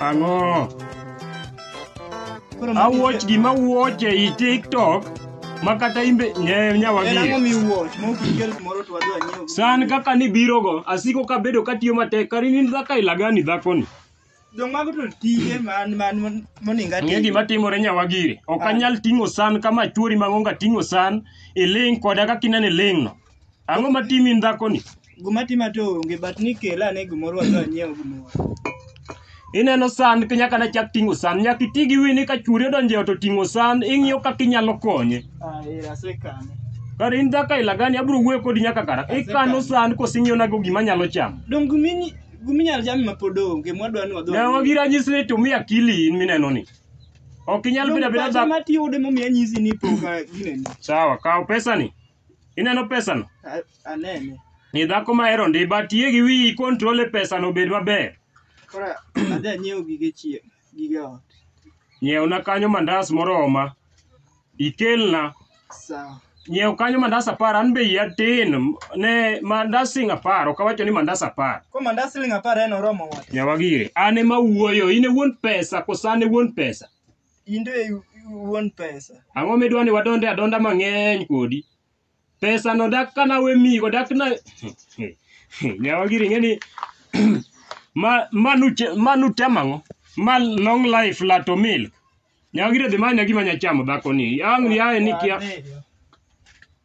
Ang'o? Koro ma- Awuoch gima wuoch ei TikTok ma kata imbe nye En ang'o nyawagi. miwuoch ma ok ikel kumoro to wadhi wanyiew. San kaka nibirogo, asiko kabedo katiyo matek, kari ni dhaka ilagani dhakoni. Jong mago to tije man man man- moninga Ng'e gima timore nyawagiri. Ok Ah. anyal ting'o san kama chwori mang'onga ting'o san, iling' koda kaka ineno iling'no. Ang'o ma timin dhakoni? Guma tima to onge but ni kela ane gimoro wadhi wanyiew gimoro. Ineno san ki nyaka nachak ting'o san. Nyaka iti gi wini ka chwori odonjo e ot oting'o san, ing'iyo kaka inyalo konye. Ah, eh, asekane. Kare in dhako aila gani abiro wuoyo kodi nyaka kara. Ikano san kose ing'iyonago gima anyalo chamo. Dong gumi gumi nyal jami ma pod onge mwadwa ni wadhi. Ne wagi ranyisi ni to mi akili in mineno ni. Ok inyal bedo abeda dhako. Mati yude momiya nyisi ni poka gineni. Sawa, kaw pesani. ineno pesano A- Anene. ni dhako mahero ndi but yie gi wiyi control e pesano obed maber Kora adhi anyiew gige chiemo, gige ot. nyiewna kanyo mandas moroma ikelna Sawa. nyiew kanyo mandas apar an be iya tin ne mandas sing apar ok awacho ni mandas apar Ko mandas siling apar en oromo wat. nyawa gire an ema wuoyo in e wuon pesa koso an e wuon pesa in to i- iwuon pesa Ang'o midwa ni wadonde adonda mang'eny kodi? Pesa no dak ka nawe mi go dak na nyawa giri ng'e ni ma manu che- manu tema ng'o? Ma long life la to milk. Nyawa giri dhi manya gima nya chamo dhako ni. Ang' yaye ni kia. Adhiyo.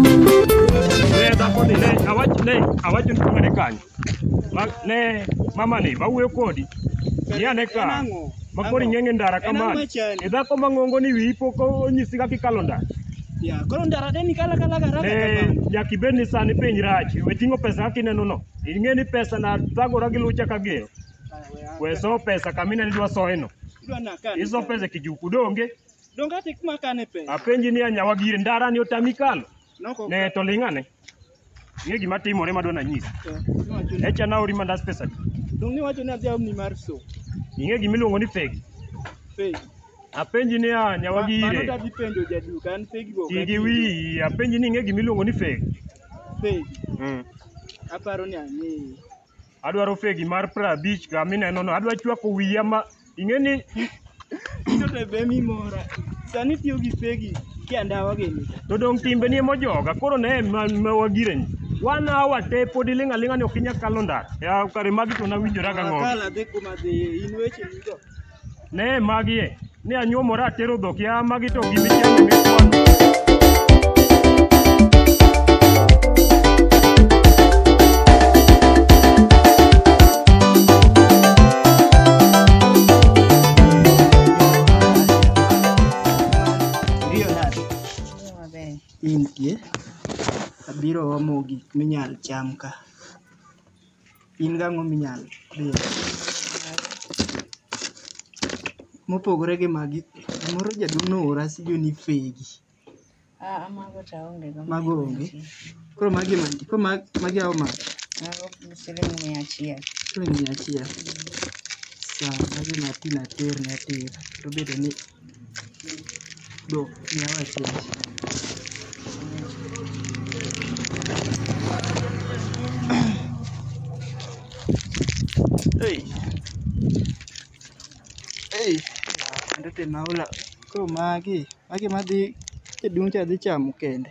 ne dhako ni ne awach ne awacho ni kumane kanyo Ma- ne mama ni mawuoyo kodi ni ane ka makori ng'enge ndara kamano e dhako mang'ongo ni wiyi pok onyisi kaka ikalo ndara Ya, koro ndara de ni kala kala kala ne nyaka ibed ni sani piny rach we ting'o pesa kaka ineno no ing'e ni pesa na thagora gi lucha kagero Weso pesa kamine nidwa soyeno. Idwa nakane. Iso pesa kijuku donge. Donge ati kuma kane pesa? Apenji ni anyawa gire ndara ni otami kalo. Noko. Ne to ling'ane. Ng'e gima timore madwa nanyisi. Niwacho ni- Echa naori mandas pesa. Donge niwacho ni adhi aomni mar so. Ing'e gima iluongo ni fegi. Pegi. Apenji ni anyawa Ma- Mano gire. tadhi penjo jaduka an pegi go. Ti gi wiyi. Apenji ni ing'e gima iluongo ni fegi. Pegi. Mm. Aparo ni ang'eyo. Adwaro fegi mar prabich ka mineno no. Adwa chwako wiya ma ing'e ni Ito to be mi mora. Sani tiyo gi fegi ki andawa gini. to dong timbe ni emojoga koro ne ma, ma wagireni. Wan awa te pod iling' aling'a ni ok inya kalo ndara. Ya kare magi to nawinjora gang'o. Akala dhi kuma dhi in weche nigo. Ne magie, ne anyuomora atero dhok ya magi to gimi chamo gi kwano. Iriyo nade? Maber. Intie. Abiro omo gik minyal cham ka. in gang'o minyal riwo mopogore gi magi moro jaduong' noora sijoni fegi Ah, mago to aonge go. Mago onge. koro magi magi koro ma- magi awo ma Mago siling mia achiel. siling mia achiel sawa magi matin ater ne ater to bedo ni Do, miya wach wach. Hey. Hey. Kendo te maula. Koro magi, magi madhi e dun cha dhi chamo kende.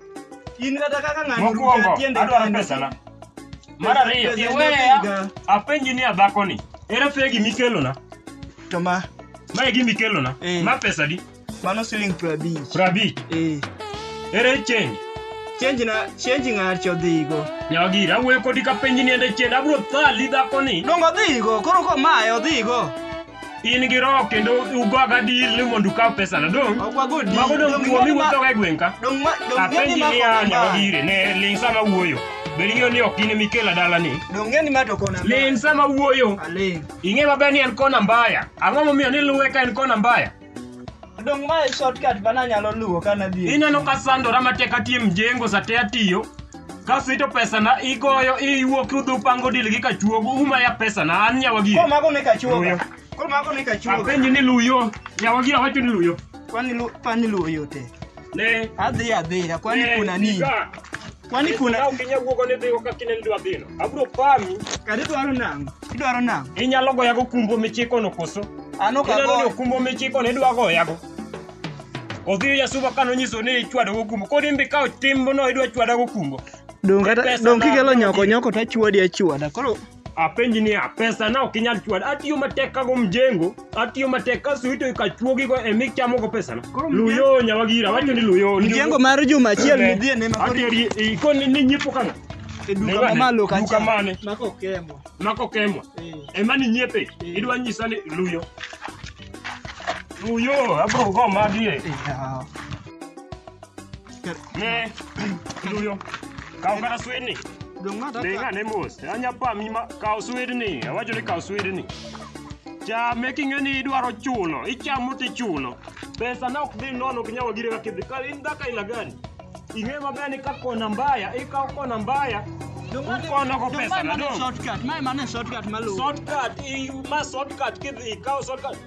In kata kaka ng'ano Mokwongo, rucha tiende adwaro kende. pesana. Mar ariyo, Pesa- pesa iweya iga. apenji ni adhakoni. Ere fegi mikelona? To ma, Ma e gima ikelona. Eh. Ma pesa di? mano siling piero abich. Prabich. Eh, Ere change? change na, change ng'achi odhigo. Nyagira, awuoyo kodi kapenji ni ende change. Abro thali dhakoni. Dongo odhigo, koro ko mae odhigo. in gi roho kendo ugoga dil ni mondo ukaw pesana dong Ok wago di. mago dong Dong kuomi ng'e ni ma- wuothoga e gweng' ka Dong ma- dong ng'e ni apenji ma niya kona nyaka ma. dire ne ling sama wuoyo bed ing'eyo ni ok in ema ikela dalani Dong ng'e ni ma to kona ma. ling sama wuoyo Aling. ing'e maber ni en kona mbaya ang'o momiyo ni luwe ka en kona mbaya Dong mae shortcut ma nanyalo luwo ka nadhi. ineno ka sandora matek atiyo mjengo sate atiyo kasito pesana igoyo iwuok udhi upango dil gi kachuogo umaya pesana an nyawagi Koro mago ne kachuoga. Luyo. Koro mago ne kachuoga. apenji ni luyo nyawagi awacho ni luyo Kwani lu kwani luwo yote. ne Adhi adhi kwani Eh, kuna nini? nika. Kwani kuna Ka ok inya wuogo ni dhigo ka kineni dwa dhino. Abro pami. kare dwaro nango? Idwaro nango? Inyalo goya go kumbo michiko no koso. An ok Ineno ni agoyo. okumbo michiko ne dwa goya go. Odhiyo Yasuba kano nyiso ni ichwado go kumbo. Kodi mbi ka otimbo no idwa chwada go kumbo. Donge Pesa donge na- kigelo nyoko nyoko to achwadi achwada. Koro apenji niya pesa na ok inyal chwad atiyo matek kago mjengo atiyo matek kaso ito ikachuogigo e michamogo pesana Koro mjengo- luyo nyawagira wacho ni luyo Mjengo mar juma achiel Eh, midhie ne makori atieri ikoni ni nyiepo kang'o e duka Nega- mamalo duka kacha. mane Mako kemo. mako kemwa Eh. ema ni nyiepe idwa nyisa ni luyo luyo abro go magi e Yeah. Ne, luyo. Kaw kata swidni. Dong' ma Ding taka. ane mos. Anya pami ma kaw swidni. Awacho ni kaw swidni. Chame king'e ni idwaro chulo. Ichamo tichulo. Pesa na ok dhi nono ok nyal gire kaka idhi. Ka in dhaka ila gani? Ing'e maber ni ka kona mbaya, ikaw kona mbaya. Dong' ma- Ukono ko dong' pesa ma na mane dong'. shortcut, ma mane shortcut maluwo. Shortcut, i- ma shortcut kidhi ikaw shortcut.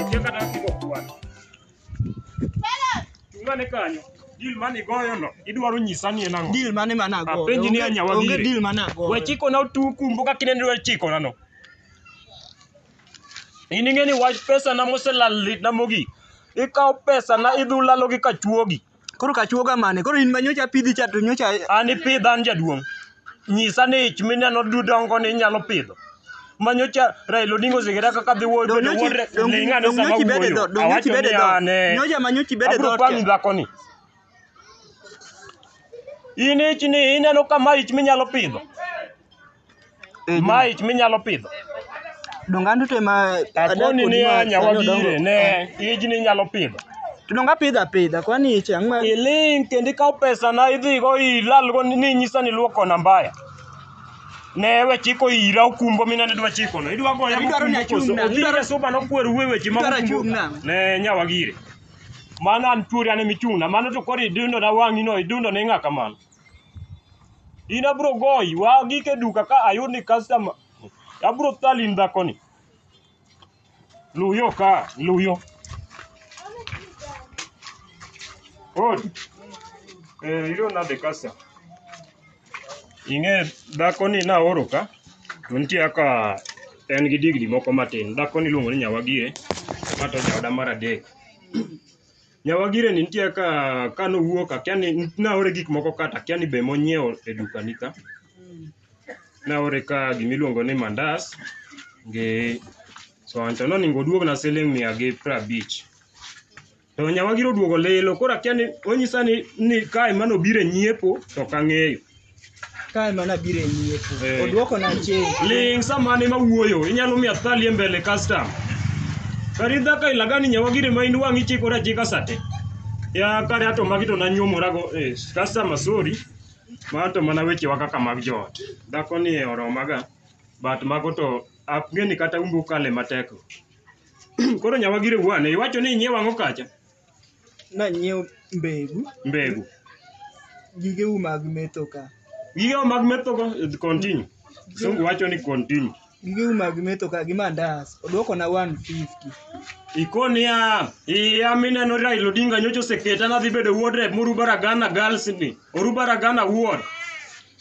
Okia kata kaka igo kwano. Chung' ane kanyo. Deal mane igoyono, idwaro nyisa ni en ang'o? Deal mane mana go? Apenji ni anya wagire. Onge deal mana go. We chikona otuku mbuka kinende we chikona no. In ing'e ni wach pesa na moselal litna mogik. Ikawo pesa na idhi ulalo gi kachuogi. Koro kachuoga mane? Koro in ma nyocha apidhi cha to nyocha An ipidha an jaduong'. Nyisa ni ich mineno dudongo ni inyalo pidho. Manyocha Raila Odinga oseketa kaka dhi wuoyo donge nyochi wuodre donge ning' ane sama nyochi bede dho, wuoyo. donge nyochi Awacho bede ni dho. an eh. Nyocha ma nyochi bede Abro dho. pami dhakoni. In ich ni ineno kama ich minyalo pidho. Eh, Ma ich minyalo pidho. Donga ndu te ma Akoni ni anya wabire ne ijni inyalo pidho. Donga pidha pidha kwani iche ang'ma. Iling kendo ikaw pesa na idhi go ilal go ni nyisa ni luoko na mbaya. Ne we chiko ira okumbo mina ne dwa chiko no. Idwa goya Idwaro ni achung' na, Idwaro idwaro- suba no kwer we weche ma Idwaro okumbo. achung' na. Ne nyawa gire. Mano an tuori an emichung'na. Mano to koro idundo na wang'i no idundo ne ng'a kamano. In abro goyi, wa gik e duka ka ayud ni customer. Abro thali in dhako ni. Luw yo ka, luw yo. Odi. Eh, iro nade customer? Ing'e dhako ni naoro ka, to nitie kaka en gi digri moko matin. Dhako ni iluongo ni Nyawagie, ma to jaoda mar adek. Nyawagire ni nitie ka ka nowuok akia ni naore gik moko kata akia ni be monyiewo e dukani ka. Naore ka gimiluongo ni mandas gi soan to noningo oduogna siling' mia gi prabich. To nyawagire oduogo lilo koro akia ni onyisa ni ni ka ema nobiro e nyiepo to ok ang'eyo. Kae mana biro e nyiepo. Eh. Odwoko na change. Ling samane mawuoyo, inyalo miya thalie mbele custom. Kari dhaka ilagani nyawa gire ma in wang'i chikore achika sate. Ya kare ato magi to nanyuomora go eh, custom sorry. Ma to mana weche wa kaka mag joot. Dhako ni e oromaga but mago to apgeni kata umbu kale matek. Koro nyawa gire wuane, iwacho ni inyiewa ang'o kacha? Nanyiewo mbegu, mbegu gigeu mag metho ka. Gigeu mag metho ka, continue. Sungu wacho ni continue. Gigeu mag metho ka gi mandas, odwoko na 150. Ikoni ya, iya mineno Raila Odinga nyocho seketa na dhi bedo wuod rep moru baragana girls ni. Oru baragana wuod.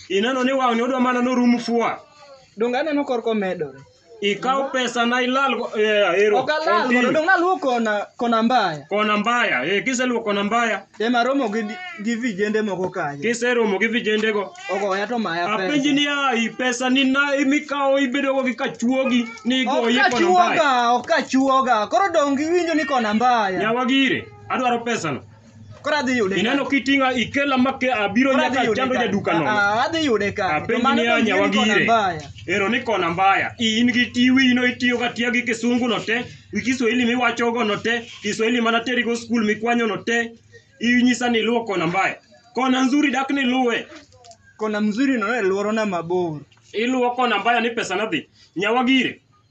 Ineno ni wang'ni odwa mana norum fua. Donge aneno korko medore? Ikaw pesa na ilal go- yeah, ero. Ok alal mondo Continue. dong' aluwo kona kona mbaya. Kona mbaya. Eh, kiseluwo kona mbaya, Ema romo gi gi vijende moko kanyo. kiseromo gi vijendego. Ogoya to maya Apenji pesa. niya, i pesa ni na mikawo ibedogo gi kachuogi ni Ok igoyi kona mbaya. kachuoga, ok kachuoga. Koro dong' giwinjo ni kona mbaya. Nyawagire, adwaro pesano. Koro adhi yude. Ineno kitinga ikela make abiro Koro adhi nyaka yude chando ka. jaduka Ah, nono. ah, adhi yude ka. Apenji To mano ni to anya ing'e ni kona wagire. mbaya. Ero ni kona mbaya. In gi tiwi ino itiyo ka tiya gi kisungu no te, gi Kiswahili miwacho go no te, Kiswahili mana teri go skul mikwanyo no te. Inyisa ni luwo kona mbaya. Kona nzuri dak ni luwe. Kona mzuri no e luoro na mabor. Iluwo kona mbaya ni pesa nadhi. Nyawagire.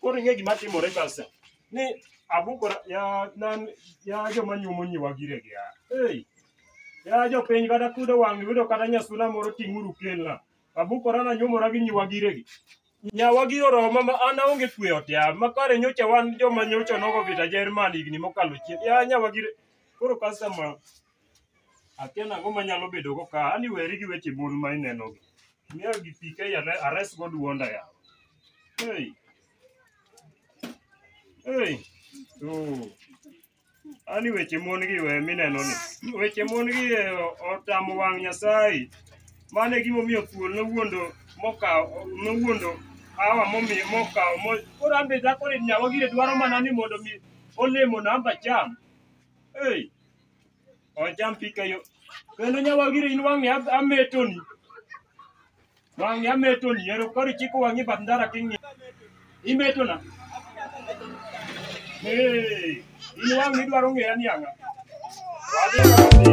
Koro ing'e gima timore kasa. Ni abukora ya nan ya joma nyumo nyiwa gire gi ya. Hey. Ya jopiny kata kudo wang' yudo kata nyasuna moro ting'uru kelna. Abukora na nyumora gi nyiwa gire gi. Nyawa gi oroma ma an aonge kwe ot ya. Ma kare nyocha wan joma nyocha nogo vita Jerman higni mokalo chien. Ya nyawa gire. Koro customer Akia nang'o manyalo bedogo ka, ani weri gi weche mon ma inenogi. Miya gi pi kae are- aresgo duonda yawa. Hey. Hey. Oh. Ani weche mon gi we mineno ni. Weche mon gi eh, o- otamo wang' Nyasaye. Mano e gimomiyo thuol nowuondo mokawo nowuondo hawa momiyo mokawo mo koro an be dhakoni nyawa gire dwaro mana ni mondo mi olemo namba cham. Hey. Ocham pika yo. Kendo nyawagire in wang'e ab- ametoni. Wang'e ametoni. Ero koro ichiko wang'i bath ndara king'i. Imetona. Hey, in wang'e idwaro ng'eya ni ang'a. Wadhi wadhi.